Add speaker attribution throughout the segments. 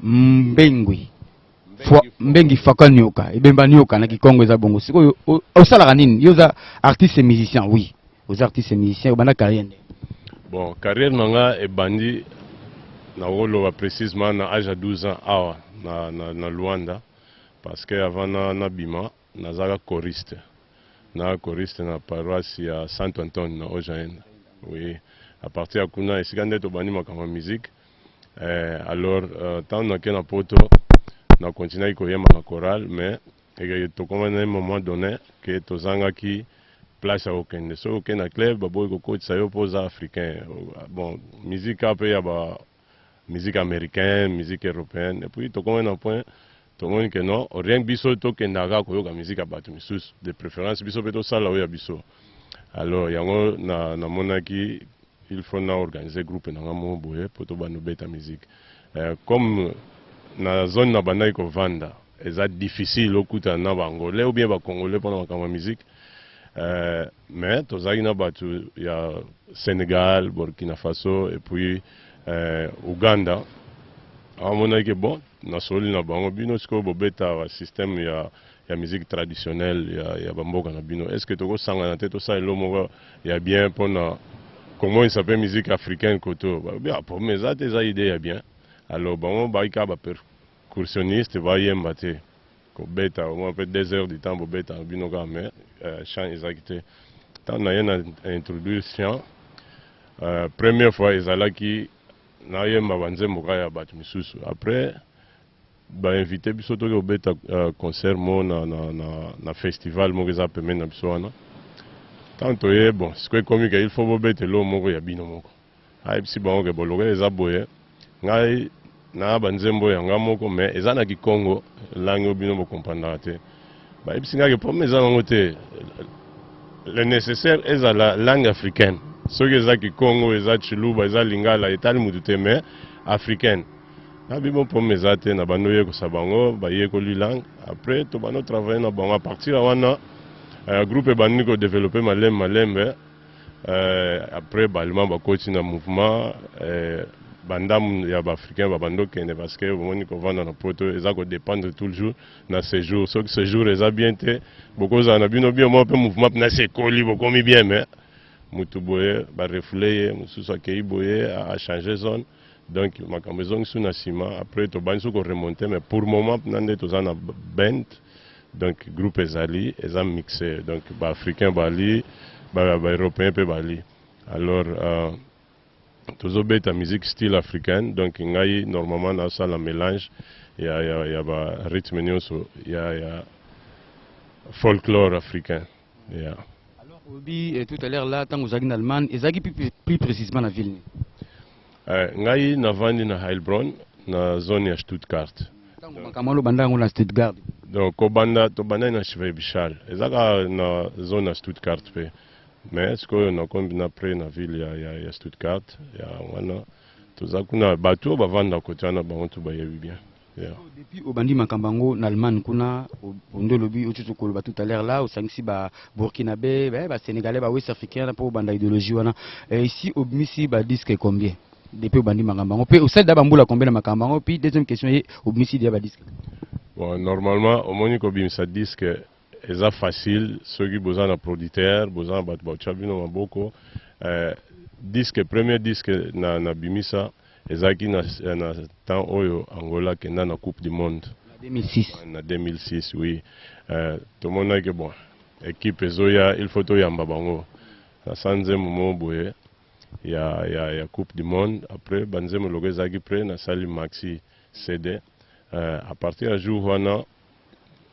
Speaker 1: mbengui fwa mbengi faka nioka ebemba nioka na kikongo eza bongo sikoyo osalaka nini yo oza artiste musicien oui oza artiste musicien obanda carrière nde bon
Speaker 2: carrière na nga ebandi nakoloba précisement na age ya 12 ans awa na, na, na luanda parce que avant na, na bima nazaka choriste na choriste na paroisse ya santo antone na ojaenda oui à partir ya kuna esika nde tobandi makambo ya musique eh, alors euh, ntango euh, nake na poto na continuaki koyemba na chorale mais eh, tokomaki na moment donné ke tozangaki place ya kokende soki okende na club baboyi kokotisa yo mpo oza africain bon musique mpe ya ba musique américaine musique européenne epuis tokomaki na point Tomoni que non, rien que biso tokenda kaka koyoka musique ya bato misusu, de preference biso mpe tosala oyo ya biso. Alors yango na namonaki il faut na organiser groupe na nga moko boye mpo tobanda obeta musique. Euh, comme na zone nabandaki kovanda eza difficile okutana na baangolais ou bien bacongolais mpona makambo ya musique euh, mais tozalaki na bato ya sénégal burkina faso et puis euh, ouganda amonaki bon Nasololi na bango bino sikoyo bobeta ba système ya ya musique traditionnelle ya, ya bamboka na bino est ce que tokosangana te tosala elo moko ya bien mpo na komonisa mpe musique africaine koto balobi ah problème eza te eza idee ya bien alors bango bayi kaka ba percussionniste bayemba te kobeta omwa mpe deux heures du temps bobeta na bino kaka mais euh, chant ezaki te ntango naye na introduire chant euh, première fois ezalaki Nayemba ba nzembo kaka ya batu misusu après ba invite biso toke kobeta uh, concert mo na, na, na, na festival moko eza pembeni na biso wana ntango toye bon siko ekomi ke il faut bobeta eloo moko ya bino moko ayebisi ah, bango ke bolokela eza boye ngai na banzembo ya ngai moko mais eza na kikongo langi oyo bino bokomprandaka te Bayebisi nga ke problème eza nango te. Le nécessaire ezala langue africaine. Soki eza Kikongo, eza Tshiluba, eza Lingala, etali mutu te mais africaine. Na bibo problème eza te na bando yekosa bango bayekoli langue. Après to bando travailler na bango à partir ya wana euh, groupe ebandi ko développer malembe malembe. Euh, après balima bakoti na mouvement euh, bandambu ya ba africain babandi okende parce que bomoni kovanda na poto eza ko dépendre toujours na sejour soki sejour eza bien te bokozala na bino bien moko mpe mouvement mpena se ekoli bokomi bien me motu boye barefoule ye mosusu akei boye achange zone donc makambo ezongisu na nsima après tobandi so koremonte mais pour moment mpena nde toza na bent donc groupe ezali eza mixe donc baafricain bali baeuropéen mpe bali alors euh, tozo beta musique style africaine donc ngai normalement na sala mélange ya ya ya ba rythme nyoso ya ya folklore africain ya alors obi
Speaker 1: eh, tout à l'heure là tango zaki na Allemagne ezaki plus, plus précisément na ville ni eh,
Speaker 2: ngai na vandi na Heilbronn na zone ya Stuttgart tango makambo lo
Speaker 1: banda yango na Stuttgart donc kobanda
Speaker 2: tobandaki na Schwäbisch Hall ezaka na zone ya Stuttgart pe Mais sikoyo nakombi na près na ville ya, ya, ya Stuttgart ya wana toza kuna bato oyo bavanda kote wana bango to bayebi bien yeah. so, depuis obandi
Speaker 1: makambo yango na allemagne kuna ondo olobi otutu koloba tout à l'heure là osangisi ba burkinabé eh, ba sénégalais ba west africain na mpo obanda idéologie wana eh, ici obimisi ba disque combien depuis obandi makambo yango mpe osalida bambula combien na makambo yango puis deuxième question ye obimisi dia ba disque bon
Speaker 2: normalement omoni kobimisa disque Eza facile soki boza na proditeur boza na batu batia bino maboko eh, disque premier disque na na bimisa ezalaki na, na temps oyo Angola kenda na coupe du monde na 2006 na 2006 oui eh, tomonaki bon equipe ezoya il faut toyamba bango na sa nzembo moko boye ya, ya, ya coupe du monde après banzembo loko ezalaki pre nasali maxi cd eh, à partir ya jour wana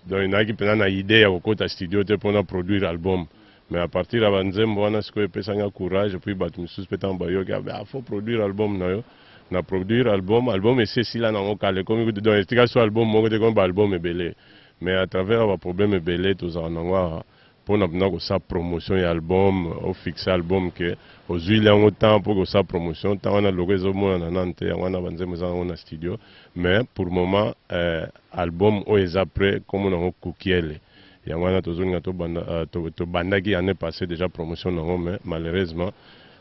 Speaker 2: Donc nayaki mpenza na idee ya kokota studio te mpo na produire album mais à partir ya banzembo wana sikoyo epesa nga courage puis bato mosusu mpe ntango bayoki abe ah, faut produire album na yo na produire album album esi esila nango kala ekomi kutu donc etika so album moko te ekomi baalbum ebele mais à travers baproblème ebele tozala nango awa pona pna kosala promotion ya album o fixe album que ozuili yango temps po kosala promotion temps wana logo ezo monana nanu te yango wana ba nzembo eza nango na studio mais pour moment eh, album oyo eza près kombo nango kukiele yango wana tozolinga tobanda uh, tobandaki to année passée déjà promotion nango mais malheureusement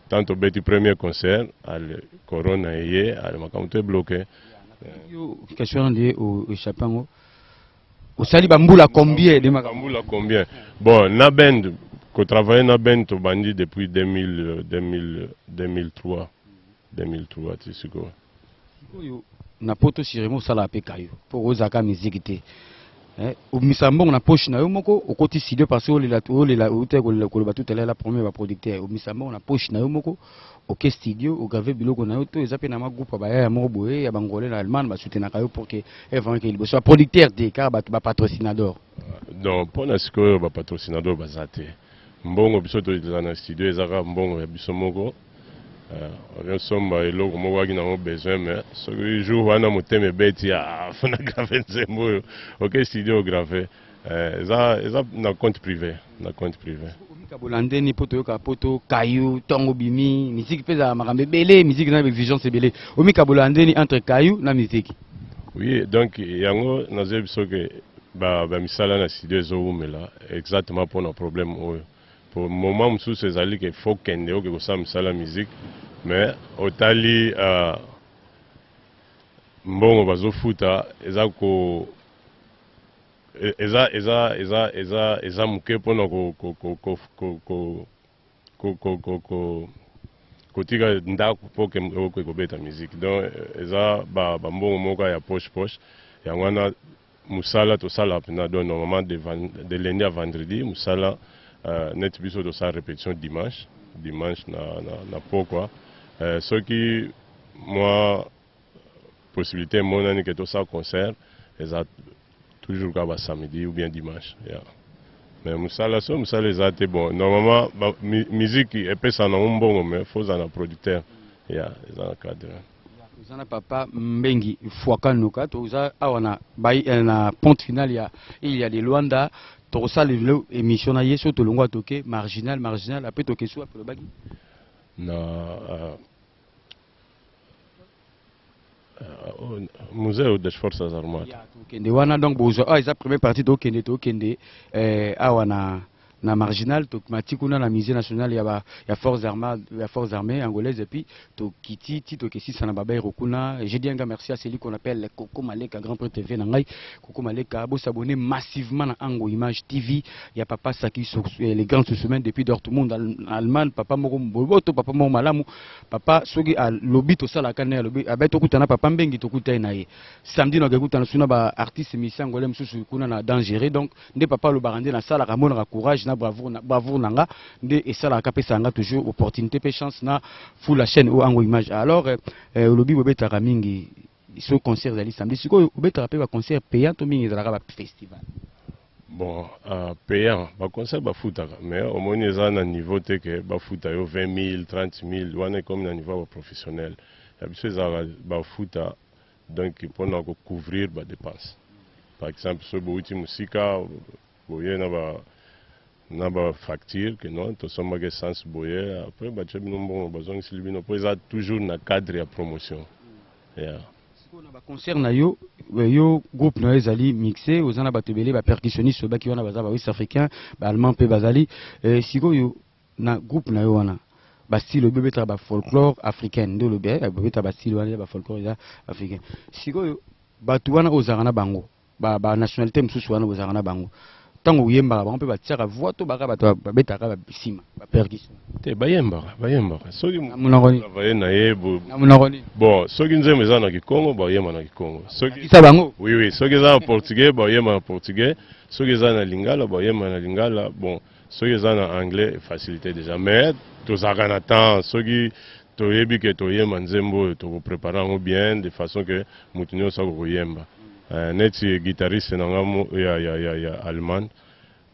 Speaker 2: tant tobeti premier concert ale corona eye ale makambo to ebloke
Speaker 1: question wana nde oechappe yango osali ba mbula combien de makambo mbula combien
Speaker 2: bon na bend ko travailler na bend tobandi depuis 2000 2000 2003 2003 ti sikoyo sikoyo
Speaker 1: na poto siremo osala pe kayo po ozaka musique te eh, obimisa mbongo na poche na yo moko okoti studio parce olela olela outa koloba tout à l'heure la premier ba producteur obimisa mbongo na poche na yo moko oke studio ograve biloko na yo to eza mpe na mwa groupe ya bayaya moko boye ya bangole na allemagne basutenaka yo pour ke evangaki eh, liboso baproducteur te kaka bato bapatrocinador non mpo
Speaker 2: na sikoyo bapatrocinador baza te mbongo biso tozala na studio eza kaka mbongo ya biso moko okosomba eh, eloko moko aki nango besoin mais soki jour wana motema ebeti afuna ah, grave nzembo oyo oke studio grave Eh, eza eza na compte privé na compte privé
Speaker 1: omikabola ndeni mpo toyoka mpo tokayu ntongo bimi miziki mpe ezala makambo ebele miziki na exigence ebele omikabola ndeni entre kayu na miziki oui donc
Speaker 2: yango nazoyebi biso ke bamisala ba na studio ezowumela exactement mpo na problème oyo po moment mosusu ezali ke fo kende oke kosala misala miziki mais otali uh, mbongo bazofuta eza ko e, eza eza eza eza eza moke mpona kotika ndako mpo oke kobeta miziki donc eza bambongo moko ya poche poche yango wana mosala tosala mpena donc normalement de lundi à vendredi mosala euh, neti biso tosala répétition dimanche dimanche na, na, na pokwa euh, soki mwa possibilité emonani ke tosala concert eza toujours kaka basamedi ou bien dimanche yeah. mais mosala so mosala eza te bon normalement miziki epesa nango mbongo mais fo ozala na producteur ya yeah, eza na cadre oza na papa
Speaker 1: mbengi fuakanuka toza awa na, eh, na ponte finale ya ile ya de luanda tokosala lelo émission na ye so tolongwa toke marginal marginal ape toke so ape lobaki na
Speaker 2: uh, museo das forças armadas ya tokende wana donc
Speaker 1: bozwa awa eza première partie tokende tokende eh, awa na na marginal tomati kuna na musée national ya, ba, ya forces armées ya forces armées angolaise epuis tokiti ti tokesisa na babairo kuna je dis un grand merci à celui qu'on appelle koko maleka grand prêtre tv na ngai Coucou Maleka, bo s'abonner massivement na Ango Image TV ya papa Saki eh, le grand semaine depuis Dortmund Allemagne papa moko boboto papa moko malamu papa soki a lobi to sala ka na lobi abe to kutana papa mbengi to kutai na ye samedi na kutana suna ba artiste misa ngole msusu kuna na dangereux donc nde papa lo barande na sala ka mona ka courage na bravoure na bravoure nanga nde e sala ka pesa nga toujours opportunité pe chance na full la chaîne ou Ango Image alors eh, lobi bobetaka mingi Soki concert ezali samedi, sikoyo obetaka pe ba concert payant to mingi ezalaka ba festival? Bon,
Speaker 2: uh, payant ba concert bafutaka mais omoni eza na niveau te ke bafuta yo 20 000 30 000 wana ekomi na niveau ya ba professionnel ya biso ezalaka bafuta donc mpona kocouvrir ba dépense par exemple soki bouti mosika boye na ba na ba facture que non tosombaki essence boye après batye bino mbongo bazongisili bino mpo eza toujours na cadre ya promotion yeah.
Speaker 1: sikoyo na baconcert na yo eh, yo groupe na yo ezali mixe oza na bato ebele bapercussionniste oyebaki wana baza bawest africain baallemand mpe bazali eh, sikoyo na groupe na yo wana bastyle oyo bobetaka bafolklore africaine nde olobi eh, bobetaka bastyle wana ya bafolklore eza africaine sikoyo bato wana ozalaka na bango ba, ba nationalité mosusu wana bozalaka na bango ntango oyembaka bango mpe batiaka voi to baka bato babetaka basima bapercussion te bayembaka
Speaker 2: bayembaka soki travaye
Speaker 1: na ye bon
Speaker 2: soki nzembo eza na kikongo baoyemba na kikongo sokisa bango oui oui
Speaker 1: soki eza na
Speaker 2: portugais baoyemba na portugais soki eza na lingala baoyemba na lingala bon Soki eza na anglais e facilite dejà mais tozalaka na temps soki toyebi ke toyemba nzembo oyo toko preparer yango bien de façon ke mutu nionso ako koyemba eh, neti guitariste na nga mo ya ya ya ya Allemagne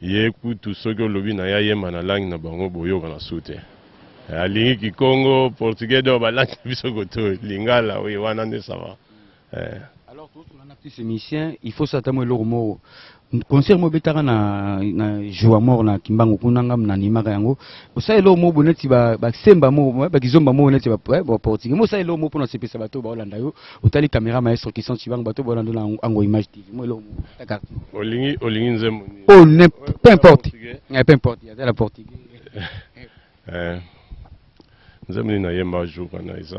Speaker 2: ye kutu soki olobi na ye ayemba na langue na bango boyokana su te eh, alingi kikongo, portugais donc ba langue na biso koto lingala oui wana nde ça va. eh. alors
Speaker 1: tozosola na petit musicien il faut sata mo eloko moko concert mo obetaka na, na joa mort na kimbangu kuna nga nanimaka yango osala eloko moko bo neti basemba ba moko bakizomba moko neti baportugais mo osala eloko moko mpona osepesa bato oyo baolanda yo otali caméra maestro kisan cibangu bato oyo baolanda yo na ango image tv mo eloko moko olingi olingi
Speaker 2: nzembo o oh, ne
Speaker 1: peu importe eh, peu importe azala portugais eh, nzembo
Speaker 2: nini nayemba jour wana eza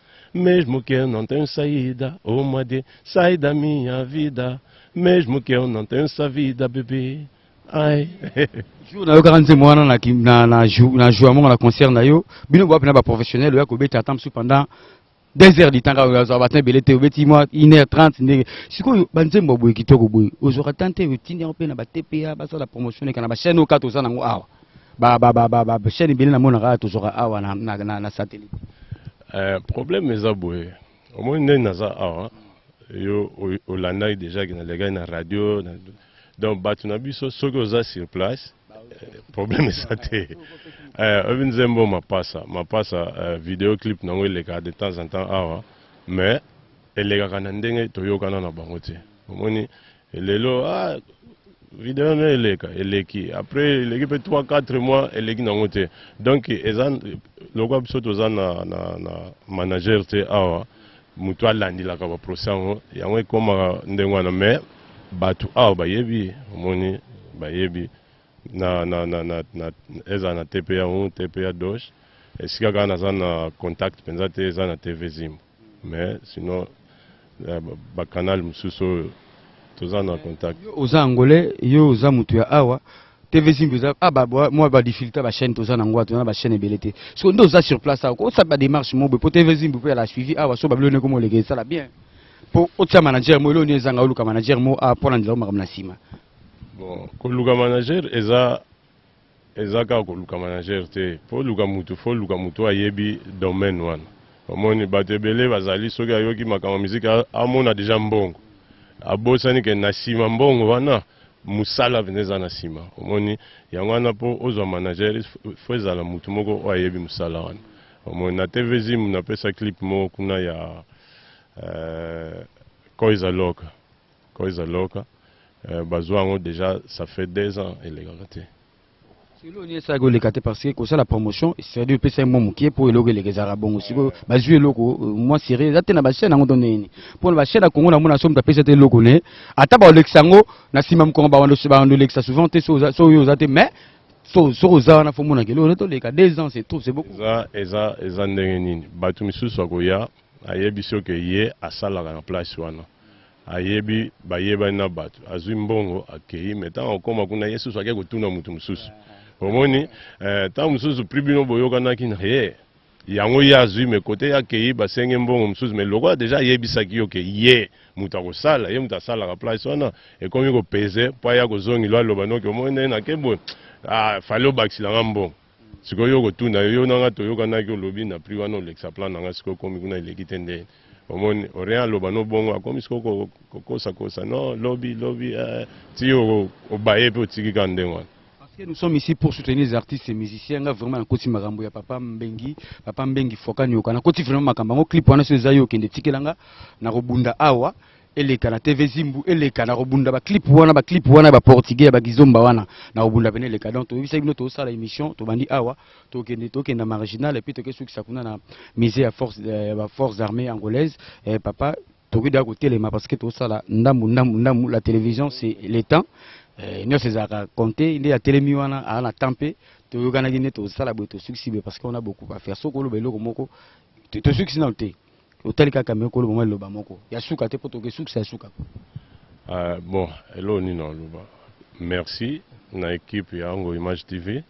Speaker 2: Mesmo que eu não tenho saída, oh Madi, sai da minha vida. Mesmo que eu não tenho essa vida, bebê. Ai. jour
Speaker 1: nayokaka nzembo wana na, na, na, na jour yango na concert na yo bino bowapi na baprofessionnel oya kobeta ata mosusu pendant deux heures du temps kaka azwa batin ebele te obeti mwa une heure trente ndenge sikoyo banzembo boye kitoko boye ozwaka temps te otindi yango mpe na batpa basala promotion eka na bachaine oyo kati oza nango awa ba ba ba ba ba chaîne bini na mona ka to zoka awa na na na, na satellite euh
Speaker 2: problème eza boye au moins nde naza awa yo olandaki déjà na legaki na radio na, donc bato na biso soki oza sur place euh, problème eza te euh, oyebi nzembo mapasa mapasa euh, video clip nango elekaka de temps en temps awa mais elekaka na ndenge toyokana na bango te omoni Lelo ah video na eleka eleki après eleki pe 3 4 mois eleki nango te donc eza lokola biso toza na, na, na manager te awa motu alandilaka baprocès yango yango ekomaka ndenge wana mais bato awa bayebi omoni bayebi na, na, na, na, na, eza na tpa 1 tpa 2 esika kaka naza na contact mpenza te eza na tv zimbo Mais sinon ba canal mususu oyo toza na contact. Oza angolais,
Speaker 1: yo oza mutu ya awa. TV Zimbi oza ah ba moi ba difficulté ba chaîne toza na ngwa toza na ba chaîne ebele te. Siko nde oza sur place awa. Ko sa ba démarche mobo po TV Zimbi po ya la suivi awa so ba bilo ne ko mo lege sala bien. Po otia manager mo elo ni ezanga oluka manager mo a pona ndela makambo na sima. Bon,
Speaker 2: koluka manager eza Eza kaka koluka manager te faut oluka mutu faut oluka mutu oyo ayebi domaine wana omoni batu ebele bazali soki ayoki makambo ya musique amona dejà mbongo abosani ke na sima mbongo wana musala penza eza na sima omoni yango wana po ozua manager faut ezala mutu moko oyo ayebi musala wana omoni na TV Zimbu napesa clip moko kuna ya euh, Koiza Loka Koyza loka eh, bazwa yango deja ça fait deux ans elekaka te eloko
Speaker 1: nini esalaki oleka te parce que kosala promotion cest dire opesa ye mwa moke mpo eloko eleka ezalaka bongo sikoyo bazwi eloko euh, mwa serie eza te na bachaine yango to nini mpo na bachaine ya kongo na mona so moto apesa te eloko ne ata baolekisa yango na nsima mokongo baando olekisa souvent te so oyo oza te mais soki oza wana fo monaka eloko ne toleka deux ans c'est trop c'est beaucoup eza eza eza
Speaker 2: ndenge nini bato misusu akoya ayebisi oke ye asalaka na place wana ayebi bayebani na bato azwi mbongo akei me ntango akoma kuna ye susu ake kotuna moto mosusu omoni eh, ntango mosusu pri bino boyokanaki na ye yango ye azwi me kote ye akei basenge mbongo mosusu me lokola deja ayebisaki yo ke ye moto akosala ye moto asalaka place wana ekomi kopeze mpo aya kozongilo aloba noki omoni ndenge nake boye ah, fale obakisila nga mbongo sikoyo yo okotuna yo na nga toyokanaki olobi na prix wana olekisa plan na nga sikoyo okomi kuna eleki te nde omoni orien aloba no bongo akomi sikoyo kokosakosa no lobi lobi eh, ti obaye mpe otiki ka ndenge wana Parce que nous sommes ici
Speaker 1: pour soutenir les artistes et musiciens. Nga vraiment nakoti makambo ya papa Mbengi, papa Mbengi Foka Nyoka. Nakoti vraiment makambo yango clip wana so eza yo kende tikelanga nakobunda awa. eleka na TV Zimbu eleka na kobunda ba clip wana ba clip wana ba portugais ya ba kizomba wana na kobunda pene eleka donc toyebisa bino tosala émission tobandi awa tokende tokenda marginal et puis tokesukisa kuna na musée ya force ya ba forces armées angolaise eh, papa tokoki da kotelema parce que tosala ndambu ndambu ndambu la télévision c'est le temps eh, nyonso ezalaka compte nde atelemi wana aa na temps mpe toyokanaki nde tosala boye tosukisi boye parce que on a beaucoup à faire soki oloba eloko moko tosukisi nano te otali kaka me koloba mwa liloba moko ya suka te mpo tokesukisa ya suka uh,
Speaker 2: bon elo nini aloba merci na ekipe ya yango image tv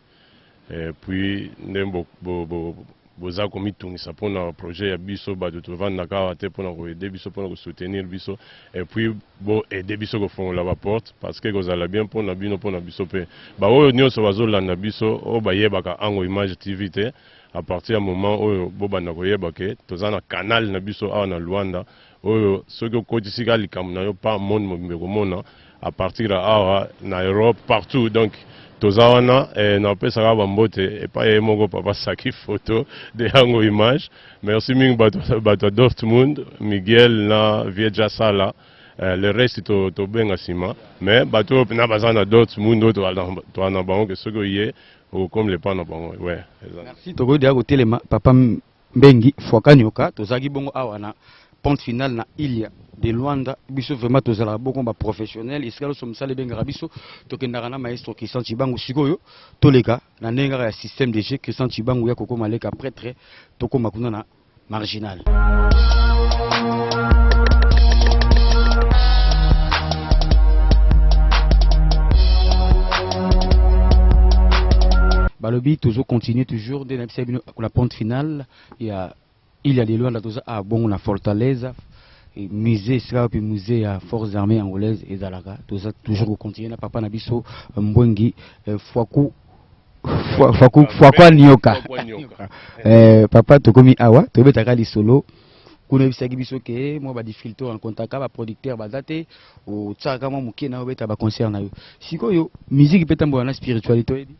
Speaker 2: eh, puis nde boza bo, bo, bo komitungisa mpona projet ya biso bato tovandaka awa te mpona koede biso mpona kosoutenir biso epuis boede biso kofongola baporte parce que ekozala bien mpona bino mpona biso mpe baoyo nyonso bazolanda biso oyo bayebaka ango image tv te à partir ya moment oyo bobanda koyeba ke toza na canal na biso awa na Luanda oyo soki okotisi ka likambo na yo pa monde mobimba ekomona à partir ya awa na Europe partout donc toza wana eh, napesaka bambote epai ye moko papa saki photo de yango image merci mingi bato ya dortmund miguel na vie jasala eh, le reste tobenga to nsima mais bato oyo mpena baza na dortmund oyo toana bango ke soki oye Oh, comme le pan na bango, ouais. Merci, tokoki deja
Speaker 1: kotelema papa Mbengi Fuakanyoka, tozalaki bongo awa na pente finale na Ilia de Luanda biso vraiment tozalaka boko ba professionnel esika loso mosala ebengaka biso tokendaka na maestro Christian Chibangu sikoyo toleka na ndenge kaka ya système de jeu Christian Chibangu ya kokoma leka prêtre tokoma kuna na marginal balobi tozo continuer toujours nde nayebisa bino la ponte finale ya il ya lelo anda toza a bongo na fortaleza musée esika wapi musée ya forces armées angolaise ezalaka toza toujours kocontinue na papa na biso mbwengi eh, fwaku fakwa nioka eh, papa tokomi awa tobetaka lisolo kuna oyebisaki biso ke mwa badifficulté orencontraka baproducteur baza te otiaka mwa moke na obeta baconcert na yo sikoyo musique mpe etambola na spiritualité oyebi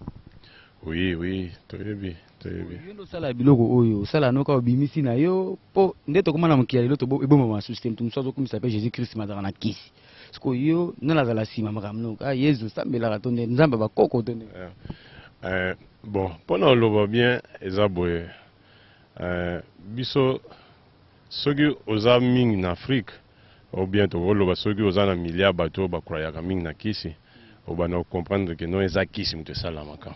Speaker 1: oui
Speaker 2: oui toyebi toyebi yo nde osala
Speaker 1: biloko oyo osala noka obimisi na yo mpo nde tokoma na mokili ya lelo ebombama masusu te moto mosusu azokumisa mpe jésus christ mazaka na kisi siko yo nani azala nsima makambo no kaka yezu osambelaka to nde nzambe ya bakoko to nde eh, eh,
Speaker 2: bon mpo na oloba bien eza boye eh, biso soki oza mingi na afrique o bien tokoloba soki oza na milliard bato oyo bakrayaka mingi na kisi obanda kocomprendre ke no eza kisi moto esalamaka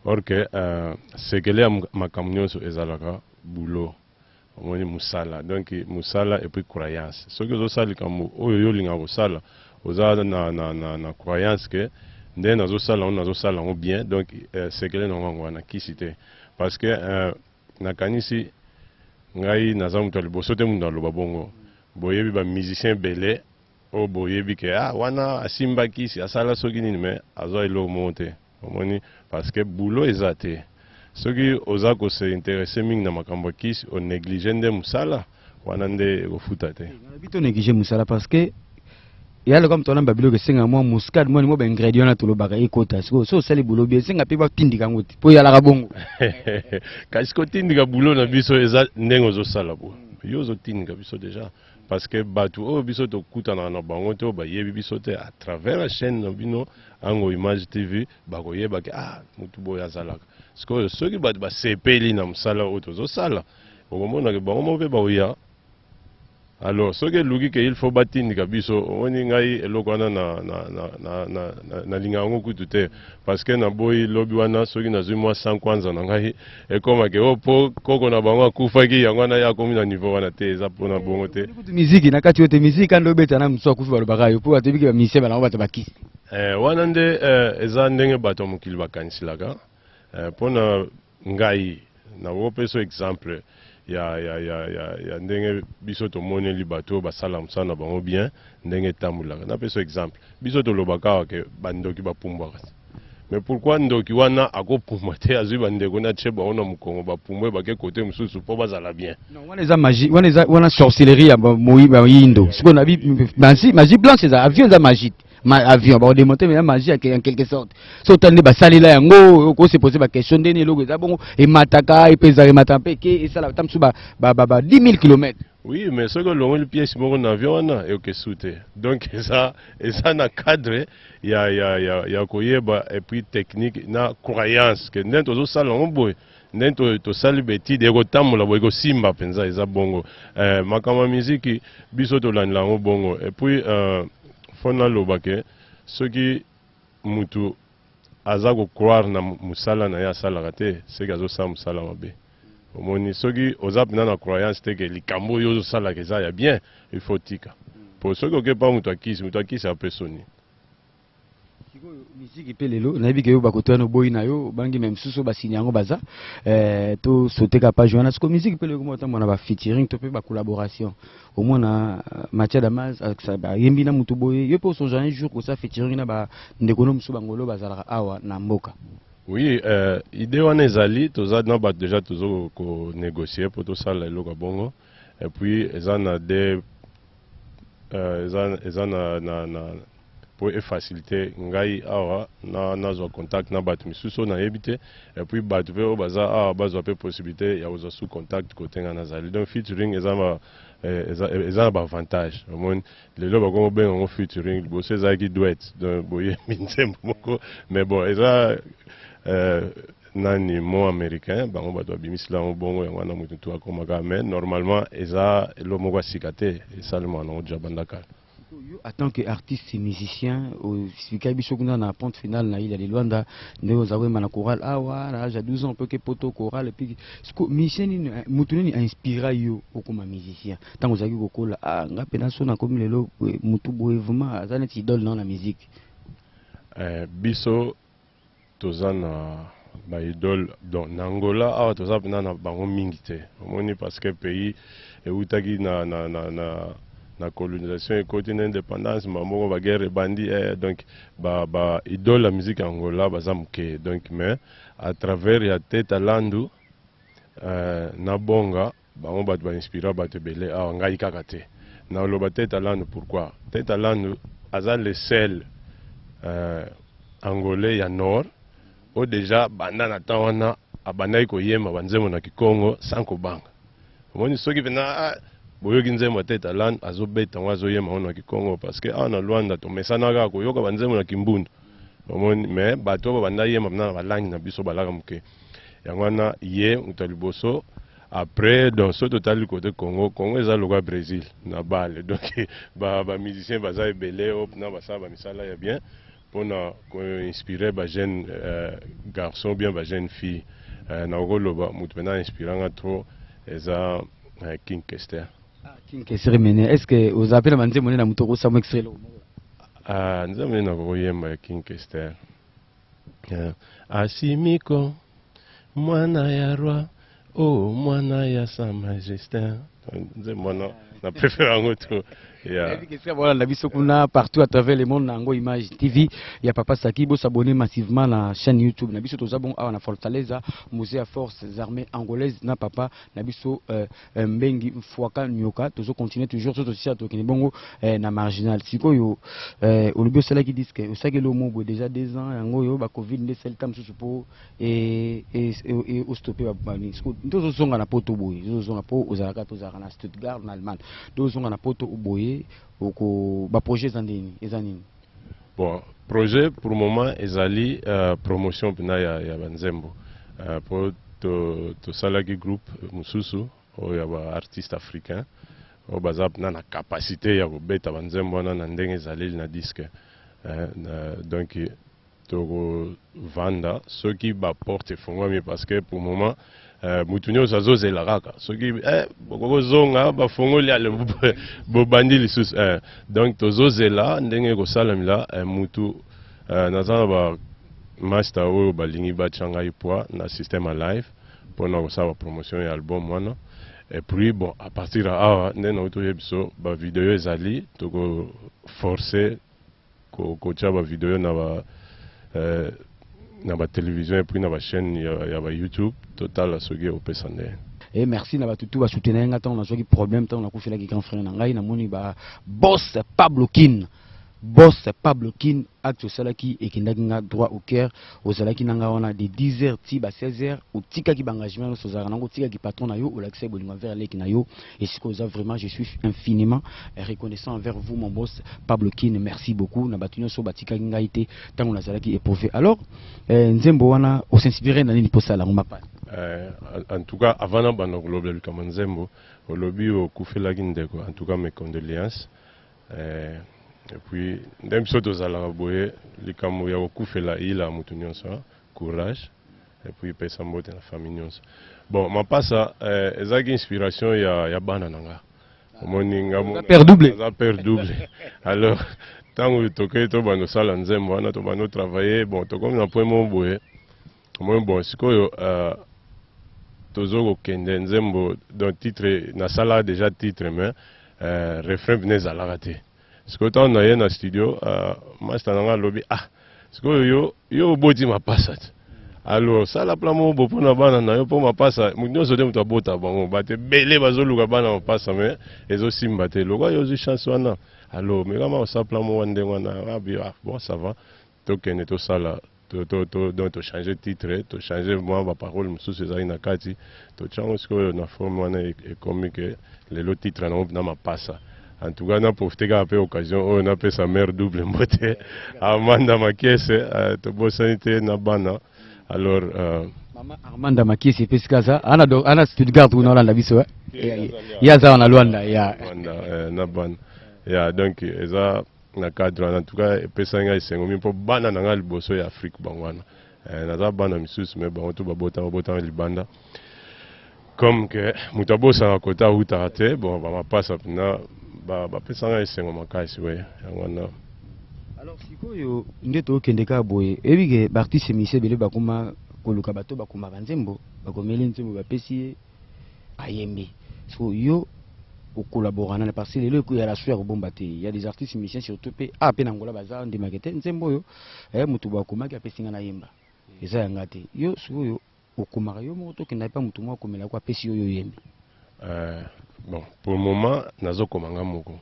Speaker 2: or ke uh, sekele ya makambo nyonso ezalaka boulot omoni musala donc musala epuis croyance soki ozosala likambo oyo yo olingaka kosala oza na, na, na, na croyance ke nde nazosala yango nazosala yango bien donc euh, sekele na yango wana kisi te parce que euh, nakanisi ngai naza moto ya liboso te moto aloba bongo boyebi bamusicien ebele oyo boyebi ke ah wana asimba kisi asala soki nini me azwa eloko moko te omoni parce que boulot eza te soki oza ko se interesse mingi na makambo ya kisi o neglige nde mosala wana nde ekofuta te nalobi to neglige mosala
Speaker 1: parce que ya lokola moto wana mba biloko esenga mwa muscade mwa nimwa baingredient wana tolobaka ekota sikoyo so osali bulo bi esenga mpe batindika yango te mpo eyalaka bongo
Speaker 2: kasi kotindika bulo na biso eza ndenge ozosala bo yo ozotindika biso deja parce que batu oyo biso tokutanaka na bango te oyo bayebi biso te à travers la chaîne na bino ango image tv bakoyeba ke ah mutu boye azalaka sikoyo soki bato basepeli na mosala oyo tozosala okomonake bango moko mpe baoya alors soki eluki ke il faut batindika biso omoni ngai eloko wana nalingaka yango kutu te parce que naboyi lobi wana soki nazwi mwa 100 kwanza na ngai ekoma ke o oh, po koko na bango akufaki yango wana ye akomi na niveau wana te eza mpona eh, bongo te kutu miziki na kati oyo te
Speaker 1: miziki kandi obeta na mosusu akufi balobaka yo mpo atoyebi ke bamisien banango bato bakisi eh, wana nde
Speaker 2: eh, eza ndenge bato ya mokili bakanisilaka mpona ngai nakopesa exemple ya, ya, ya, ya, ya ndenge biso tomoneli bato oyo basala mosala na bango bien ndenge etambulaka napesa exemple biso tolobaka awa ke bandoki bapumbwaka te mais pourquoi ndoki wana akopumbwa te azwi bandeko na tie bango na mokongo bapumbwe bake kote mosusu mpo bazala bien wana eza magie wana
Speaker 1: eza wana sorcellerie ya bayindo sikoyo nabi magie blanche eza avion eza magie ma avion ba démonter mais magie ya en quelque sorte so tande ba salela yango ko se poser ba question ndeni eloko eza bongo et mataka et pesa et mataka pe ke et sala tam sou ba ba ba 10000 km oui mais ce que
Speaker 2: longo le pièce bongo na avion wana et que souté donc ça et ça na cadre ya ya ya ya ko yeba et puis technique na croyance que ndento zo sala ngo boy nde to, tosali betide ekotambola boye ekosimba mpenza eza bongo eh, makambo ya miziki biso tolandela yango bongo epuis eh, fo naloba ke soki mutu aza kocroire na mosala na ye asalaka te seke azosala mosala mabe omoni soki oza mpenza na croyance te ke likambo oyo ozosalaka eza ya bien il faut tika mpo soki okepa moto akisi moto akisi apesoni
Speaker 1: miziki mpe lelo nayebi ke yo bakoto wana oboyi na yo bangi me mosusu basini yango baza eh, tosoteka page wana siko miziki mpe lelo komotambola na bafeaturing to mpe bacollaboration omona euh, matia damas ayembi na motu boye yo mpe osonja un jour kosala featuring na bandeko no mosusu bangolo bazalaka awa na mboka oui
Speaker 2: euh, idée wana ezali toza na bato deja tozo konégocier mpo tosala eloko ya bongo et puis eza na de euh, eza, eza na, na, na mpo efacilite ngai awa nazwa na contact na bato misusu oyo nayebi te et puis bato mpe oyo baza awa bazwa mpe possibilité ya kozwa sous contact kote ngai nazali donc featuring eza ma eh, eza, eh, eza na baavantage omoni lelo bakomi kobenga yango featuring liboso ezalaki duet donc boyembi nzembo moko mais bon eza euh, nani mot americain bango bato babimisela yango bongo yango wana moto tu akoma kaka mais normalement eza elo moko ya sika te esalemaka nango deja banda kala yo en tant
Speaker 1: que artiste musicien osika biso kuna na ponte finale na ile de luanda ndenge oza koyemba na chorale awa na age ya 12 ans opeoke poto chorale epi siko musicien nini moto nini ainspira yo okoma musicien ntango ozalaki kokola ah, nga mpe naso nakomi lelo motu boye vraiment aza neti idole nao na musique eh, biso
Speaker 2: toza na ba idole donc na Angola awa toza pena na bango mingi te omoni parce que pays ewutaki na, na, na, na na colonisation ekoti na indépendance mbala moko baguerre ebandi eh, donc ba, ba idole ya musique ya angola baza moke donc mais à travers ya teta landu eh, na bonga Bango batu ba inspira batu ebele awa ngai kaka te nao loba teta landu pourquoi teta landu aza le seul euh, angolais ya nord o deja banda na temps wana abandaki koyemba ba nzembo na kikongo sans kobanga omoni soki pena ah, boyoki nzembo ya teta landu azobeta yango azoyemba yango na kikongo parce que awa na luanda tomesanaka koyoka ba nzembo na kimbundu omoni mais bato oyo babanda yemba pena na balangi na biso balaka moke yango wana ye moto ya liboso après donc soki totali kote congo congo eza lokola brésil na bale donc bamusicien ba baza ebele oyo mpena basala bamisala ya bien mpona koinspire bajeune euh, garçon bien bajeune fille euh, nakoki koloba moto mpena inspiranga trop eza euh, king kester ah, king kester
Speaker 1: mene est ce que oza mpe na banzembo nde na moto okosamu extrelo ah, nzembo
Speaker 2: nde nakokoyemba ya king kester Eh, Asimiko, mwana ya roi, oh mwana ya sa majestin. Nze mwana na préfère yango tu. Yeah.
Speaker 1: Voilà la biso kuna partout à travers le monde na yango image TV ya papa Saki bo s'abonner massivement na chaîne YouTube na biso toza bon awa na Fortaleza musée ya forces armées angolaises na papa na biso euh, euh, mbengi mfuaka nyoka tozo continuer toujours soto sisa tokende bongo euh, na marginal sikoyo euh, olobi osalaki disque osakeli omobwe déjà deux ans yango oyo ba covid nde esali ta mosusu mpo ostope babani siko nde ozozonga na poto boye ozozonga mpo ozalaka tozalaka na stuttgart na allemagne nde ozonga na poto oboye oko baprojet eza ndeni eza nini Bon,
Speaker 2: projet pour le moment ezali uh, promotion pina ya, ya banzembo uh, po tosalaki to groupe mosusu oyo ya baartiste africain oyo baza pina na capacité ya kobeta banzembo wana na ndenge ezaleli na disque uh, uh, donc Toko vanda soki ba porte efongwami parce que pour moment euh, mutu nyonso azozela kaka soki eh, bokozonga bafongoli ale bobandi lisusu eh. Donc tozozela ndenge ekosalamela eh, mutu eh, naza na ba master oyo balingi batya ngai poids na système ya live mpo na kosala promotion ya album wana et puis bon à partir ya awa nde nauti oyebi biso bavideo ezali tokoforce ko kotia ba video na ba eh, na ba television et puis na ba chaîne ya, ya ba YouTube totala soki opesa nde et merci na
Speaker 1: batutu ba soutenir nga tant na soki problème tant na kufela ki grand frère na ngai na moni ba boss Pablo Kin boss Pablo Kin acte osalaki ekendaki nga droit au cœur ozalaki na nga wana de 10h ti ba 16h otikaki ba engagement nyonso ozalaka nango otikaki patron na yo olakisaki bolingo envers leki na yo esika oza vraiment je suis infiniment reconnaissant envers vous mon boss Pablo Kin merci beaucoup na bato nyonso batikaki ngai te ntango nazalaki éprouvé alors euh, nzembo wana osinspire na nini mpo osala yango mapa euh, en tout
Speaker 2: cas avant nabanda kolobela likambo nzembo olobi okufelaki ndeko en tout cas mes condoléances euh, et puis nde biso tozalaka boye likambo ya kokufela eyila moto nyonso courage et puis pesa mbote na famille nyonso bon mapasa eh, ezalaki inspiration ya, ya bana na nga
Speaker 1: omoni nga
Speaker 2: mo- père double. naza père double alors ntango tokei tobanda osala nzembo wana tobanda otravaille bon tokomi na point moko boye omoni bon sikoyo euh, tozo kokende nzembo donc titre nasala déjà titre mais euh, refrain bina ezalaka te sikoyo tango naye na studio uh, masta na ngai alobi ah sikoyo yo yo oboti mapasa te alors sala plan moko bo mpona bana na yo mpo mapasa moto nyonso te moto abota bango bato ebele bazoluka bana mapasa me ezosimba te lokola yo ozwi chance wana alors mekama osala plan moko ndenge wana ah, ah, bon ça va Tokende tosala to, to, to, donc to changer titre, to changer mwa ba parole mosusu ezali na kati, totya yango sikoyo na forme wana e, ekomi ke lelo titre nango na mapasa. En tout cas, na profite kaka mpe occasion oyo napesa mère double mbote Amanda Makiese, euh, tobosani te na bana alors euh, Mama
Speaker 1: Armanda Makisi epesi kaza ana do ana Stuttgart kuna olanda biso eh. Ye- ye aza wana Luanda ya Rwanda, eh, na bana
Speaker 2: ya donc eza na cadre wana en tout cas epesaki ngai esengo mingi mpo bana na ngai liboso ya afrique bango wana eh, naza bana misusu me bango to babota babotaka libanda comme que moto abosaka kota awutaka te bon bamapasa mpena bapesa ngai esengo makasi boye yango wana
Speaker 1: alors sikoyo nde tokende kaka boye oyebi ke baartiste mise ebele bakoma koluka bato bakomaka nzembo bakomeli nzembo bapesi ye ayembi siko yo okolabora nani parce que lelo eko ya raso ya kobomba te ya des artistes musiciens surtout mpe a ah, mpe na ngola baza ndimake te nzembo oyo eh, moto boyo akomaki apesi ngai nayemba eza ya ngai te yo sikoyo okomaka yo moko tokenda epa moto moko akomelako apesi yo yo oyembi euh,
Speaker 2: bon pour le moment nazokoma ngai moko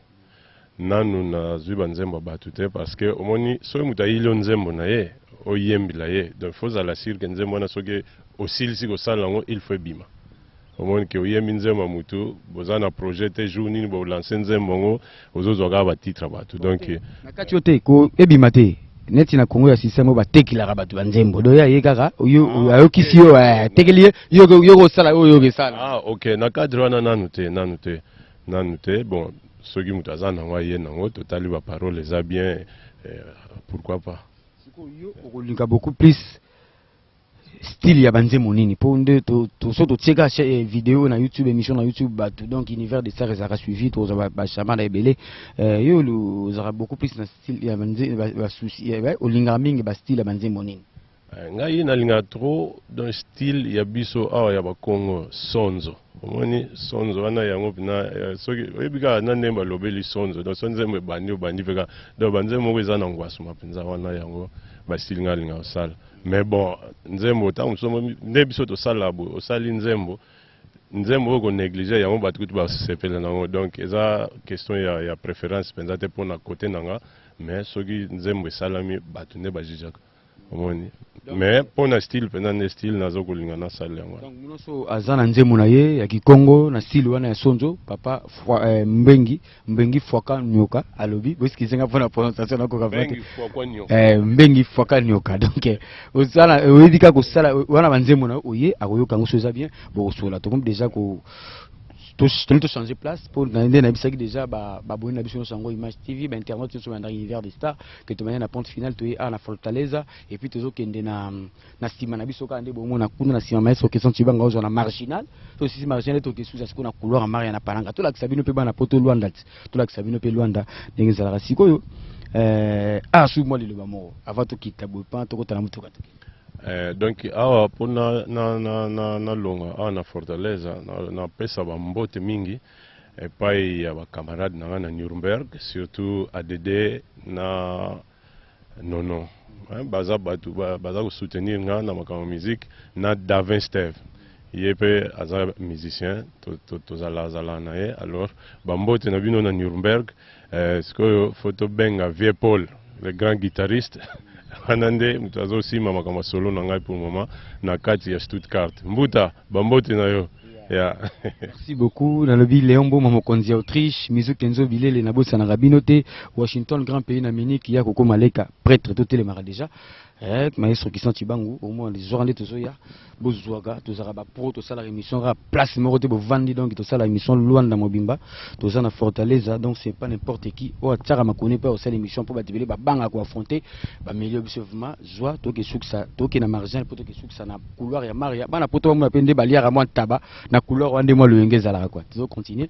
Speaker 2: nanu nazwi banzembo ya bato te parce que omoni soki moto ayili yo nzembo na ye oyembela ye donc faut ozala sur ke nzembo wana soki osilisi kosala yango il faut ebima omoni ke oyembi nzembo ya motu boza na projet te jour nini bolanse nzembo yango ozozwa kaka batitre ya bato donc na kati yo te ko
Speaker 1: ebima te neti na kongo ya systeme oyo batekelaka bato banzembo do ya ye kaka ah, ayokisi yo eh, atekeli ye yo kosala oyo okesala ah, ok na cadre wana
Speaker 2: nanu te nanu te Nanu te bon soki moto aza nango aye nango totali ba parole eza bien eh, pourquoi pas yo
Speaker 1: okolinga beaucoup plus style ya banzembo nini mpo nde so totie kaka eh, video na youtube émission na youtube bato donc univers de star ezalaka suivi tozwa bachamada ebele eh, yo ozalaka beaucoup plus na style ya souci eh, olingaka mingi bastyle ya banzembo nini Eh, ngai nalinga
Speaker 2: trop dans style ya biso awa ya bakongo sonzo omoni sonzo wana yango mpena eh, soki oyebi kaka na ndenge balobeli sonzo donc so nzembo ebandi obandi mpe kaka donc banzembo moko eza na ngwasuma mpenza wana yango basili ngai alinga kosala mais bon nzembo ntango mosusu nde biso tosalaka boye osali nzembo nzembo oyo konéglige yango bato kutu basepela na yango donc eza question ya, ya préférence mpenza te mpo na kote na nga mais soki nzembo esalami bato nde bajijaka omoni mais mpo na style mpenza nde style naza kolinga nasala yango wana nyonso aza na
Speaker 1: nzembo na ye ya kikongo na style wana ya sonzo papa fwa, eh, mbengi mbengi fwaka nyoka alobi boskizenga mpo na prononciation nakoka vrate Bengi Fwakwa Nyoka. eh, mbengi fwaka nyoka donc eh, osala eh, oyebi kaka kosala eh, wana banzembo na yo oye akoyoka yango soki eza bien bokosola tokomi deja ko to- toli tochange place mpo na- nde nayebisaki deja ba- baboni na biso nyonso yango image tv bainternet nyonso bandaki univers de star que tu na pente finale tu es à na Fortaleza et puis tozo kende na na sima na biso kande bongo na kuna na sima maestro Kesson Chibanga ozo na marginal to sisi marginal to kesuza siko na couloir Maria na Palanga to la kisabino pe bana poto Luanda to la kisabino pe Luanda ndenge zalaka sikoyo euh ah sous moi le loba moko avant to kita boy pan to kota na mutuka to Eh, donc
Speaker 2: awa mpo na, na, na, na, na longa awa na fortaleza napesa na bambote mingi epayi ya ba camarade na nga na Nuremberg surtout ADD na Nono hein, baza batu baza ko soutenir nga na makambo musique na Davin Steve ye pe aza musicien tozala zala na ye alors ba mbote na bino na Nuremberg Eh, sikoyo fo tobenga vieux Paul le grand guitariste wana nde moto azosima makambo ya solo na ngai pour moment na kati ya Stuttgart. Mbuta, bambote na yo ya Merci beaucoup.
Speaker 1: Nalobi Leon Boma mokonzi ya Autriche, Mizu Kenzo Bilele na bosa na Rabino te, Washington grand pays na Munich ya kokoma leka prêtre to telemaka déjà. Eh, maestro Christian Chibangu, au moins les orandes tozoya. bozuaka tozalaka ba pro tosalaka émission kaka place moko te bovandi donc tosala émission luanda mobimba toza na fortaleza donc c'est pas n'importe qui oyo atiaka makoni mpe osala émission mpo bato ebele babanga koaffronte bamilio biso vrima zwa toke sukisa toke na marginal mpo toke sukisa na couloir ya maria bana poto bamona mpe nde baliaka mwa ntaba na couloir wana nde mwa loyenge ezalaka kua tozo continue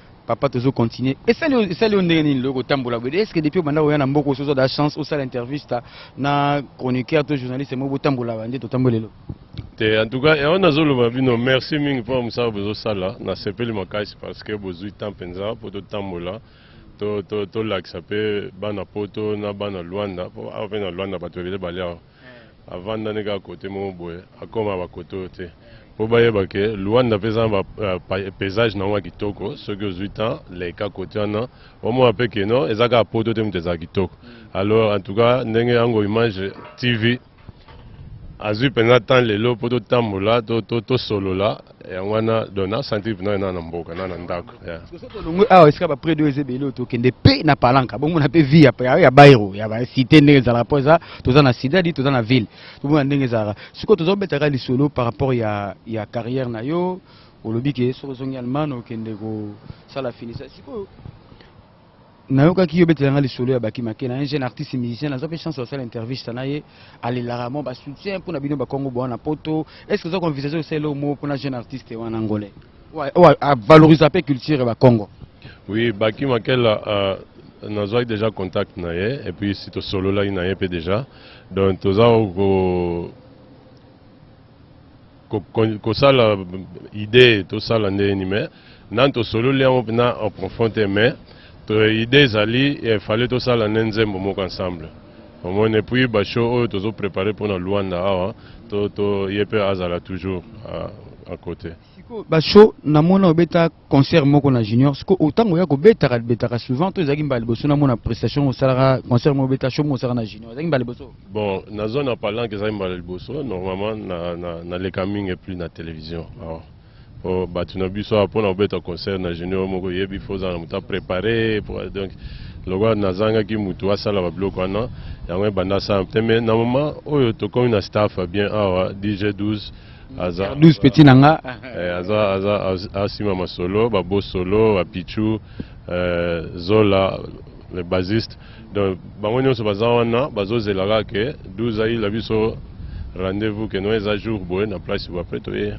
Speaker 1: papa tozo continuer esali esali yo ndenge nini loko tambola boye est ce que depuis obanda koya na mboka osi ozwa da chance osala intervista na chroniqueur to journaliste moko botambolaka nde totamboli lelo te en tout
Speaker 2: cas yango nazoloba bino merci mingi mpo ya mosala bozosala nasepeli makasi parce que bozwi temps mpenza mpo totambola tolakisa to, to mpe bana poto na bana lwanda mpo awa mpe na lwanda bato ebele bale awa avanda nde kaka kote moko boye akoma bakote oyo te mpo bayeba ke luanda mpe eza na euh, paysage na yango ya kitoko soki ozwi temps leka kote wana omona mpe ke non eza kaka poto te moto ezala kitoko alors en tout cas ndenge yango image tv azwi mpenza temps lelo mpo totambola tosolola yango wana donc na sentir pena na na mboka na na ndako tolongwe awa esika
Speaker 1: baprès de eza ebele oyo tokende mpe na palanka bomona mpe vie ya bairo ya bacité ndenge ezalaka mpo eza toza na sida di toza na ville tomona ndenge ezalaka sikoyo toza kobetaka lisolo par rapport ya, ya carrière na yo olobi ke soki ozongi allemagne okende kosala finisa sikoyo nayokaki yo obetela nga lisolo ya baki make na un jeune artiste musicien nazwa mpe chance ya kosala intervista na ye alelaka mwa basoutien mpo na bino bakongo boa na poto est ce que oza koenvisage kosala eloko moko mpo na jeune artiste wana angolais oyo avalorisa mpe culture ya bakongo oui baki
Speaker 2: makela uh, nazwaki déjà contact na ye et puis si tosololaki na ye mpe déjà donc toza ko kosala idee tosala ndenge nini mais nani tosololi yango mpena en profond te mais idee ezali fale tosala nde nzembo moko ensemble omoni epuis basho oyo tozo prepare mpona luanda awa to ye mpe azala toujours à côté basho
Speaker 1: namona obeta concert moko na junior siko otango ya kobetaka betaka souvent to ezalaki mbala liboso namona prestation osalaka concert moko obeta show moko osalaka na junior ezalaki mbala liboso bon na zone ya
Speaker 2: palanke ezalaki mbala liboso normalement na, na, na leka mingi plus na télévision awa oh, bato na biso awa mpona kobeta concert na junior moko oyebi fo ozala na moto aprépare donc lokola nazangaki motu asala babiloko wana yango ebanda asala te mais na moment oyo tokomi na staff bien awa dg 12 aza 12 petit na nga
Speaker 1: eh, aza aza
Speaker 2: asima masolo ba bosolo ba pichu eh, zola le bassiste donc bango nyonso baza wana bazozela kaka ke 12 ayila biso rendez-vous ke no eza jour boye na place boye apres toye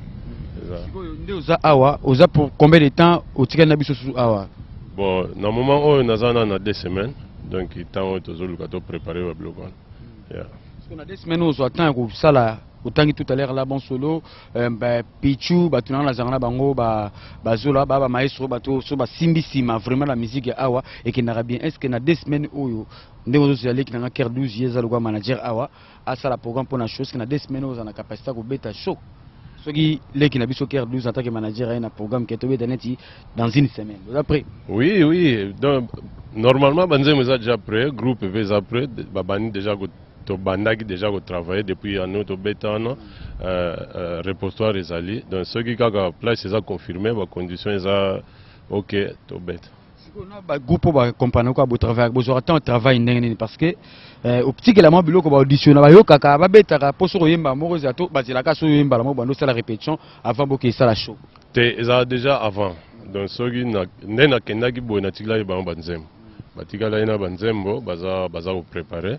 Speaker 2: sikoyo nde oza awa
Speaker 1: oza pour combien de temps otikali na biso susu awa bon na
Speaker 2: moment oyo naza na na deux semaines donc ntango oyo tozoluka to préparer babiloko wana yeah. sikoyo na deux semaines
Speaker 1: ozwa temps ya kosala otangi tout à l'heure là bon solo euh, bah, pichu bato nanga nazanga na bango bazola ba, ba, ba maestro bato so basimbi nsima vraiment la musique ya awa ekendaka bien est ce que na deux semaines oyo ndenge ozozela leki nanga ker 12 ye eza lokwa manager awa asala programme mpo na show ce que na deux semaines oyo oza na capacité ya kobeta show soki leki na biso ker 12 en tant que manager aye na programme ke tobeta neti dans une semaine oza prêt oui oui
Speaker 2: donc normalement banzembo eza déjà prêt groupe mpe eza prêt babandi déjà tobandaki deja ko travailler depuis ya nous tobeta wana euh, euh, reposoir ezali donc soki kaka place eza confirme ba condition eza ok tobeta bagu mpo
Speaker 1: bacompane kaka botravaillaka bozwaka ntango travail ndenge nini parce que euh, otikela mwa biloko baaudition na bayokaka babetaka mpo soki oyemba moko ezala to bazelaka soki oyembala moko bando osala répétition avant boke esala show te ezala déjà
Speaker 2: avant donc soki nde nakendaki boye natikelaki bango banzembo batikalaki na banzembo baza baza koprepare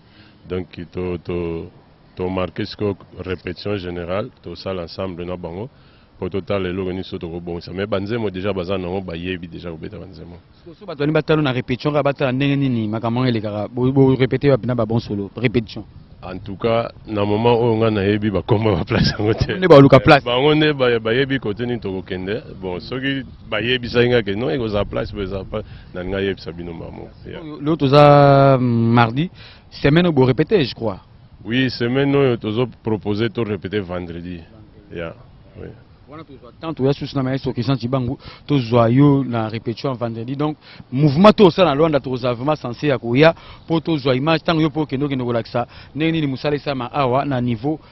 Speaker 2: donc to, to, to marke sikoyo repetition générale tosala ensemble na bango mpo totala eloko nini so tokobongisa me banzembo deja baza nango bayebi deja kobeta banzembo so bato bani batalo na
Speaker 1: repetition kaka batala ndenge nini makambo yango elekaka borepete wapi na babon solo repetition en tout cas
Speaker 2: na moment oyo ngai nayebi bakoma baplace yango te nde baluka place bango
Speaker 1: nde bayebi
Speaker 2: kote nini tokokende bon soki bayebisaki nga ke non ekozala place boye ezala place nalingi ayebisa bino mbala moko lelo toza
Speaker 1: mm, mardi semaine oyo borepete je crois oui semaine
Speaker 2: oyo tozo propose to repete vendredi ya yeah. oui. wana tozwa temps
Speaker 1: toya susu na maestro christian cibangu tozwa yo na répétition vendredi donc mouvement to osala na lwanda tokozala vraiment sense ya koya mpo tozwa image ntango yo mpo okende okende kolakisa ndenge nini mosala esalama awa na niveau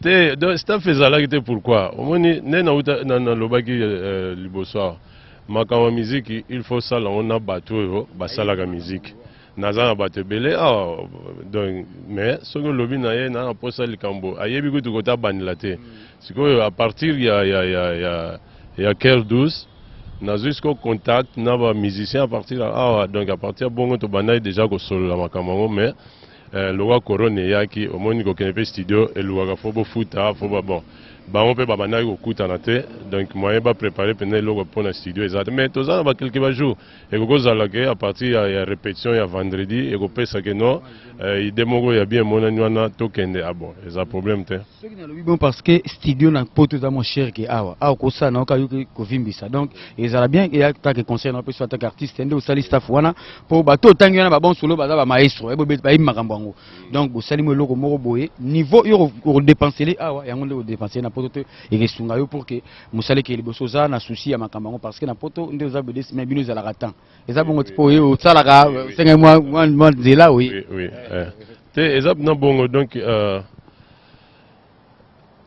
Speaker 1: te
Speaker 2: donc staff ezalaki te pourquoi omoni nde nauta nalobaki euh, liboso awa makambo ya miziki il faut osala yango na bato oyo basalaka miziki naza na bato ebele awa ah, donc mais soki olobi na ye naa mposa likambo ayebi kutu kota abandela te mm. sikoyo a partir ya, ya, ya, ya, ya ker 12 nazwi sikoyo contact na bamusicien a partir awa ah, donc a partir ya bongo tobandaki déjà kosolola makambo yango mais Eh lowa corona eyaki omoni kokende pe studio elukaka fo bofuta fo ba bon bango pe babandaki kokutana te donc moyen ba preparer mpenza eloko pona studio eza te mais toza na ba quelque ba jours ekoki kozala ke à partir ya, ya repetition ya vendredi ekopesa ke non eh, idee moko ya bien emonani wana tokende ah bon eza problème te. soki nalobi bon parce que
Speaker 1: studio na poto eza moins cher ke awa awa kosala na yoka yoki kovimbisa donc ezala bien eya kaka conseil na opesi ataka artiste nde osali staff wana mpo bato otangi wana babon solo baza bamaestro bayebi makambo yango donc bosali mo eloko moko boye niveau yo okodepensele awa yango nde okodepensele na poto te ekesunga yo pour ke mosali ke liboso oza na souci ya makambo yango parce que na poto nde oza bedesime bino ezalaka temps eza bongo tipo oyo osalaka osengeli mwa nzela oye eh. te
Speaker 2: eza na bongo donc euh,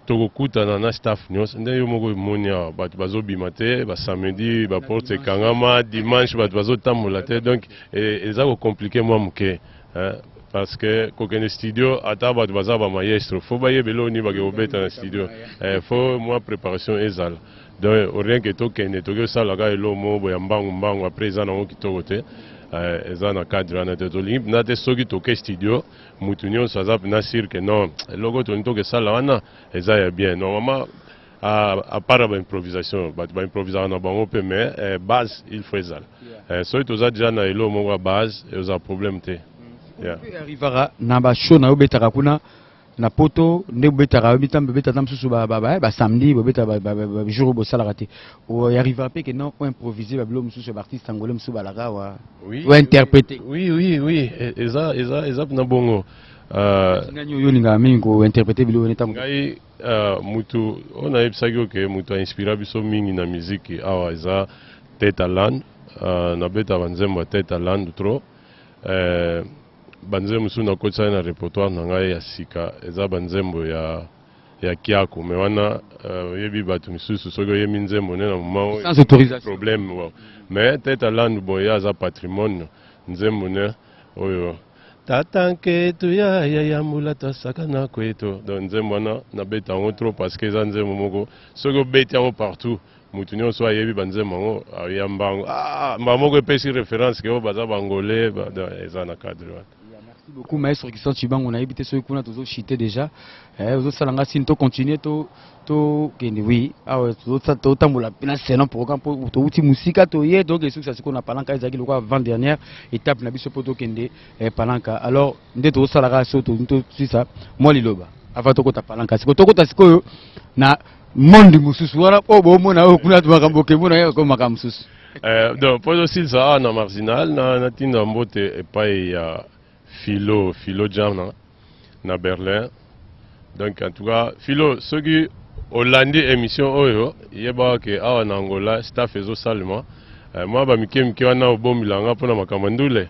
Speaker 2: tokokutana na staff nyonso nde yo moko emoni awa bato bazobima te basamedi baporte ekangama dimanche bato bazotambola te donc e, eza kocomplike mwa moke parce que kokende studio ata bato baza bamaestro fo bayebela oni bakekobeta na studio eh, fo mwa préparation ezala Donc au rien que tokende toke osala kaka elo moko boya mbangu mbangu après eza nango kitoko te euh, eza na cadre wana te tolingi mpena te soki toke studio mutu nyonso aza mpena sur que non eloko tolingi toke sala wana eza ya bien normalement à, à part ba improvisation bato ba improvisaka na bango mpe mais eh, base il faut ezala eh, soki toza deja na elo moko ya base eoza problème te yeah. arrivaka
Speaker 1: na ba show na yo betaka kuna na poto nde bobetaka yo mitambo bobeta ata mosusu basamedi bobeta bajour oyo bosalaka te oyarrivera mpe ke non oimprovise babilo mosusu ya baartiste angolais mosusu balaka awa ointerprete oui oui oui
Speaker 2: e, eza eza eza mpena bongo euh, nani
Speaker 1: oyo olingaka mingi kointerprete bilo ene ntango ngai euh,
Speaker 2: motu oyo nayebisaki oke motu ainspira biso mingi na miziki awa eza tete alane euh, nabeta banzembo ya tete alane trop banzembo mosusu nakotisaki na repertoire na ngai ya sika eza banzembo ya ya kiako me wana euh, oyebi uh, bato misusu soki oyemi nzembo nde na momaproblème
Speaker 1: bon.
Speaker 2: me tete alandu bon ye aza patrimoine nzembo ne oyo tata nketu ya yaya mbula tosaka na kweto donc nzembo wana nabeta yango trop parce que eza nzembo moko soki obeti yango partout mutu nyonso ayebi banzembo yango ayamba yango ah, mbala moko epesi reference ke oyo baza bangole eza na cadre wana merci beaucoup maestro
Speaker 1: kisan cibango nayebi te soki kuna tozochite déjà eh, ozosala nga sini tocontinue tokende wi awa totambola na selon programme mpo touti mosika toye donc esukisa sikoyo na palanka ezalaki lokola avant dernière étape na biso mpo tokende eh, palanka alors nde tozosalaka so tosisa mwa liloba avant tokota palanka sikoyo tokota sikoyo na monde mosusu wana oyo bomona oyo kuna makambo okemona ye ko makambo mosusu eh, donc mpo
Speaker 2: ezosilisa awa na marginal natinda mbote epai ya philo philo jana na berlin donc en tout cas philo soki olandi émission oyo yebaka ke awa na angola staff ezosalema eh, mwa bamike mike wana obombila nga mpo na makambo ndule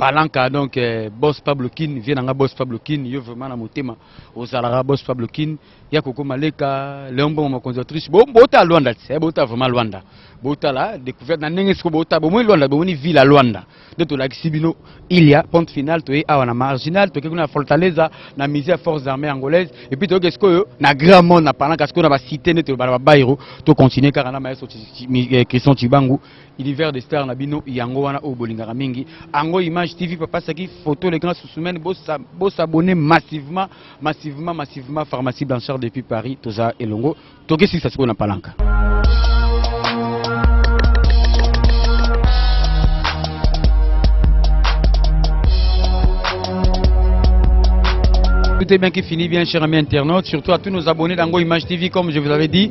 Speaker 1: Palanca donc euh, boss Pablo Kin vient nanga boss Pablo Kin yo vraiment na motema ozalaka boss Pablo Kin ya koko maleka Léon Bongo makonzi autriche bo bota Luanda tse eh, bota vraiment Luanda bota la découverte na ndenge siko bota bo moni Luanda bo moni ville à Luanda de to lakisi bino il y a ponte finale to ye awa na marginal to kekuna Fortaleza na musée ya forces armées angolaises et puis to ke siko na grand monde na Palanca siko na ba cité ne to ba bairo to continuer kaka na maestro Christian Chibangu Univers de star na bino yango wana oyo bolingaka mingi. Ango Image TV papa saki photo le grand Sousoumène bo bo s'abonner massivement massivement massivement pharmacie Blanchard depuis Paris toza elongo tokesi sa sikoyo na palanka. Tout est bien qui finit bien, chers amis internautes, surtout à tous nos abonnés d'Ango Image TV, comme je vous avais dit.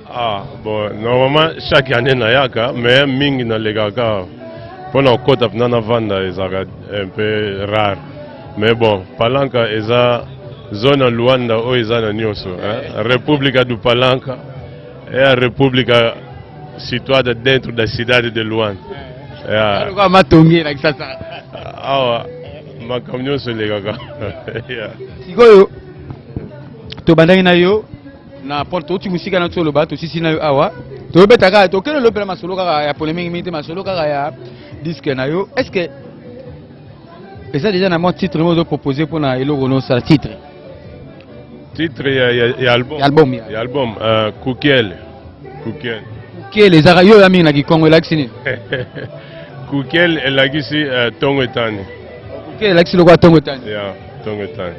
Speaker 1: Ah,
Speaker 2: bon, normalement chaque année nayaka mais mingi nalekaka mpo na kokota mpena navanda ezalaka un peu rare mais bon palanka eza zone ya luanda oyo eza na nyonso eh? república do palanca é a república situada dentro da cidade de luanda yeah.
Speaker 1: matongi elakisa sa awa
Speaker 2: makambo nyonso elekaka
Speaker 1: sikoyo tobandaki na yo na porte touti mosika na toloba tosisi na yo awa tobeta kaka tokende lopela masolo kaka ya polemiki mingi te masolo kaka ya diske na yo est ce que eza deja na mwa titre mo ozo propose mpo na eloko nosala titre
Speaker 2: titre ya, ya, ya album ya album, ya. Ya album uh, kukiele kukiele
Speaker 1: kukiele ezaka yo oya mingi na kikongo elakisi nini
Speaker 2: kukiele elakisi uh, ntongo etani kukiele elakisi
Speaker 1: lokola ntongo etani ya yeah, ntongo etani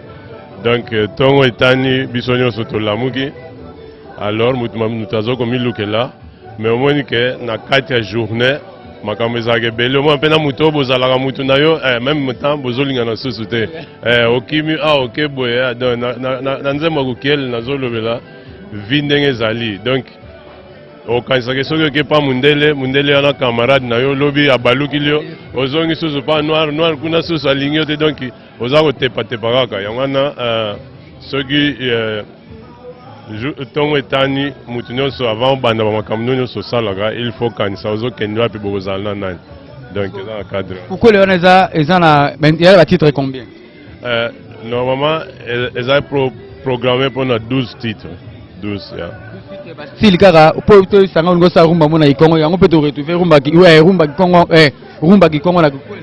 Speaker 2: donc euh, ntongo etani biso nyonso tolamuki alors moto moto aza komilukela mais omoni ke na kati ya journée makambo ezalaka ebele omona mpe na moto oyo bozalaka moto na yo eh, meme temps bozolingana susu te eh, okimi a ah, oke boye ah, donc na nzembo ya kokele nazolobela vi ndenge ezali donc okanisaka soki oke mpa mondele mondele wana camarade na yo lobi abalukili yo ozongi susu mpa noir noir kuna susu alingi yo te donc Oza kotepatepa kaka yango wana euh, soki euh, ntongo etani moto nyonso avant obanda bamakambo nio nyonso osalaka il faut kanisa ozokende wapi bokozala na nani donc eza na cadre kokole wana eza eza na
Speaker 1: ya batitre combien euh,
Speaker 2: normalement e-, eza programme mpo na 12 titre 12 ya style kaka
Speaker 1: mpo toyisanga olingi osala rumba mpo na kikongo yango mpe toretrouve rumba kikongo eh, rumba kikongo na kokole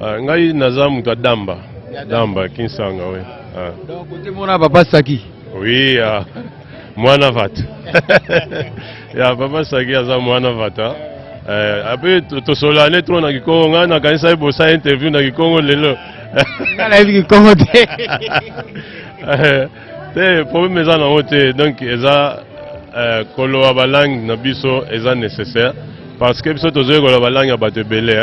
Speaker 1: Ah, ngai
Speaker 2: naza moto ya damba damba kinsanga oui. Ah. Donc kote mona
Speaker 1: papa saki. Oui ah.
Speaker 2: mwana vata ya papa saki aza mwana vata eh, ape tosolane trop na kikongo ngai nakanisaki bosala interview na kikongo lelo ngai nayebi
Speaker 1: kikongo te eh,
Speaker 2: te problème eza nango te donc eza euh, koloba balangue na biso eza nécessaire parce que biso tozoyi koloba balangue ya bato ebele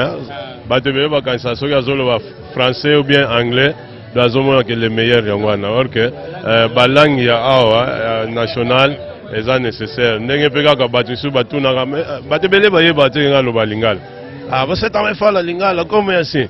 Speaker 2: bato ebele bakanisa soki azoloba français ou bien anglais do azomona ke le meilleur yango wana or ke euh, balangue ya awa euh, nationale eza nécessaire ndenge mpe kaka bato misusu batunaka bato ebele bayeba te ngai aloba lingala ah, basetama efala lingala comme yasi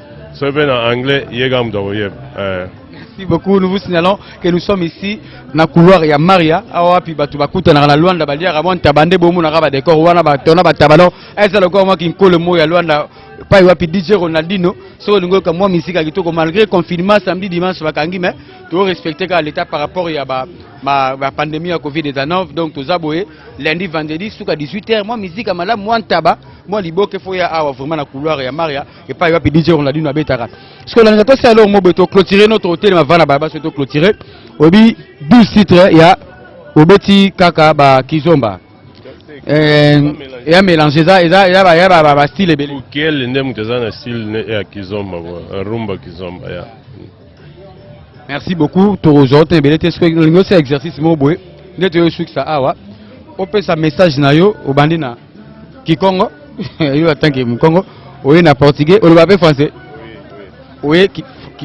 Speaker 2: soki mpe na anglais ye kaka moto akoyeba eh. merci
Speaker 1: beaucoup nous vous signalons que nous sommes ici na couloir ya maria awa wapi bato bakutanaka na luanda baliaka mwa ntaba nde bomonaka badekor wana batona bataba no eza lokola mwa kinkolo moko ya luanda pai wapi dj ronaldino soki olingi oyoka mwa misika kitoko malgré confinement samedi dimanche bakangi mais torespecte kaka leta par rapport ya bapandemie ya covid 19 donc toza boye lundi vendredi suka 18 heure mwa misika malamu mwa ntaba mwa liboke fo ya awa vraiment na couloir ya maria epai wapi DJ Ronaldinho abetaka sikoyo nalinga tosala eloko moko boye toclotire no totelema vana balaba soki toclotire oyebi 12 titre ya obeti kaka bakizomba eh, ya mélange eza eza ya ba ya ba ba style ebele. Kukele nde moto eza
Speaker 2: na style ya kizomba rumba kizomba ya. Yeah.
Speaker 1: merci beaucoup tokozwa te ebele te soki olingi osala exercice moko boye nde toyosukisa awa opesa message na yo obandi na kikongo yo atanke mokongo oye na portugais oloba mpe français oye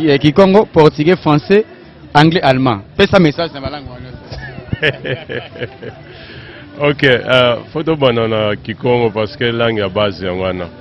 Speaker 1: eh, kikongo portugais français anglais allemand pesa message na balangue wana
Speaker 2: ok uh, fo tobanda na kikongo parce que langue ya base yango wana